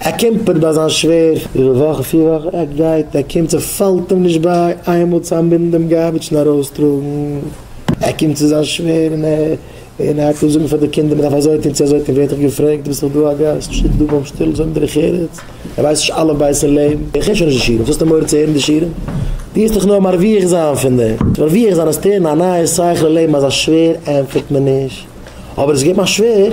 ער קומפערט ביי זיין שווער איבער וואכן פיר וואכן ער גייט ער קומט ס'פאלט אים נישט ביי איינמאל צו אנבינדן דעם גארביטש און ארויסטראגן ער קומט צו זיין שווער און און ער הייבט אן זאגן פאר די קינדער מ'דארף אזוי טון צו אזוי טון ווערט ער געפרעגט דו ביסט דאך דא א גאסט שטיק דא ביים שטול זאג דרך ארץ ער ווייסט נישט אלף בית אין לעבן ער הערט שוין נישט די שיעורים וואס האסטו מורא צו הערן די שיעורים דו וועסט דאך נאר מרוויח זיין פון דעם מרוויח זיין האסטו הערן א נייע שכל אין לעבן אז א שווער ענטפערט מען נישט אבער עס איז געבן א שווער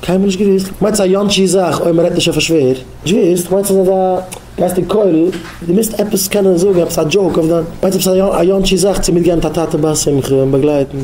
קיינמאל נישט געוואוסט. מיינסט א יאנטשי זאך אויב מ'רעדט נישט אויף א שווער? נישט געוואוסט. מיינסט אז אזא גייסט אין כולל דו מוזט עפעס קענען זאגן עפעס א דזשאוק אויף דיין. מיינסט עפעס א יאנטשי זאך צו מיטגיין מיט א טאטע ביי א שמחה און באגלייטן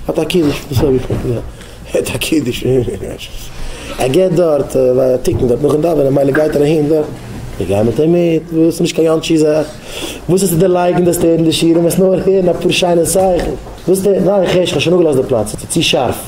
אט א קידוש דאס האב איך מיט מיר אט א קידוש ער געט דארט א תיקון דארט נאכן דאווענען מילא גייט ער אהין דארט איך גיי מיט אים מיט וואס ס'איז נישט קיין יאנטשי זאך וואס האסטו דערלייגן דארפסט הערן די שיעורים וועסט נאר הערן אפאר שיינע זאכן וואס די ניין איך הער שוין כ'האב שוין אפגעלאזט די פלאץ ס'איז צו שארף.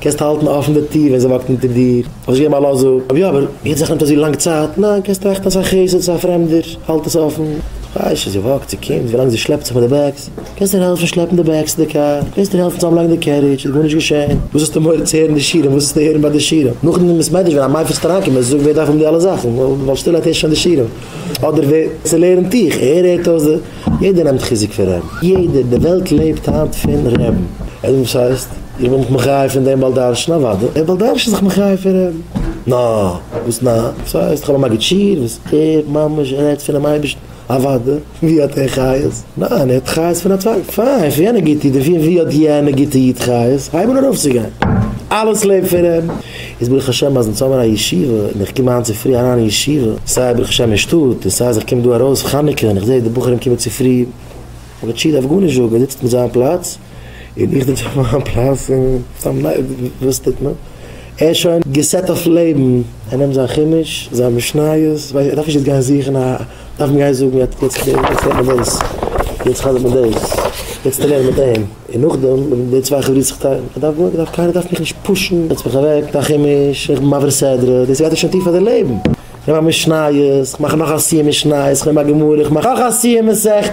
קענסט האלטן אפן די טיר ווען זי וואקט אונטער דיר, אבער זי געבן א לאזע אויף יא, אבער יעצט זאך נעמט אזוי לאנג צייט, ניין קענסט טראכטן אז ס'איז א חסד, ס'איז א פרעמדער, האלט עס אפן, כ'ווייס שוין, זי וואקט, זי קומט, ווילאנג זי שלעפט זיך מיט די בעגס, קענסט איר העלפן שלעפן די בעגס צו די קאר, קענסט איר העלפן צוזאמלייגן די קערידזש, איז גארנישט געשען, וואס האסטו מורא צו הערן די שירים, וואס האסטו הערן ביי די שירים, נאכדעם איז מעדרעש ווען א מיידל פלעגט אריינקומען, זי זאגט ווער דארף האבן די אלע זאכן, ווייל שטילערהייט הערסט שוין די שירים, אדער ווער צולערנט דיך, ער הערט אויס די. יעדער נעמט חיזוק פון רעב. יעדער, די וועלט לעבט היינט פון רעבן. עס וואס הייסט? איך בין מיך מחיה פון דעם בעל דרשן? אוודאי, דער בעל דרשן איז זיך מחיה פון רעבן. נא! וואס נא? וואס הייסט? איך האב א מגיד שיעור וואס ער ממש רעדט פונעם אייבערשטן? אוודאי! ווי האט ער חיות? ניין, ער האט חיות פון א צווייטן. פיין, פון יענע גוטע איד און פון ווי האט יענע גוטע איד חיות? הייבן אן ארויפצוגיין. אלעס לעבט פון רעבן. איז ברוך השם אז אונז האבן א ישיבה און איך קום היינט צופרי אריין אין ישיבה, סיי ברוך השם אין שטאט און סיי אז איך קום דא ארויס חנוכה און איך זעה די בחורים קומען צופרי, ר' טשי דארף גארנישט זאגן, ער זיצט מיט זיין פלאץ און איך זיץ אויף מיין פלאץ און סתם וואס טוט מען? ער איז שוין געסעט אויף לעבן, ער נעמט זיין חומש, זיין משניות, ער דארף נישט יעצט גיין זוכן א, דארף מען גיין זאגן יעצט רעדט מען דאס, יעצט חזר'ט מען דאס, יעצט טרענירט מען דעם. און נאכדעם וועלן די צוויי חברות זיך טיילן, איך דארף גארנישט, קיינער דארף מיך נישט פושן, זעץ מיך אוועק, זיי כעמיש, איך בין מעביר סדרה, דאס גייט דיר שוין טיף אין די לעבן, איך נעם א משניות, איך מאך נאך א סיום משניות, איך נעם א גמרא, איך מאך נאך א סיום מסכת.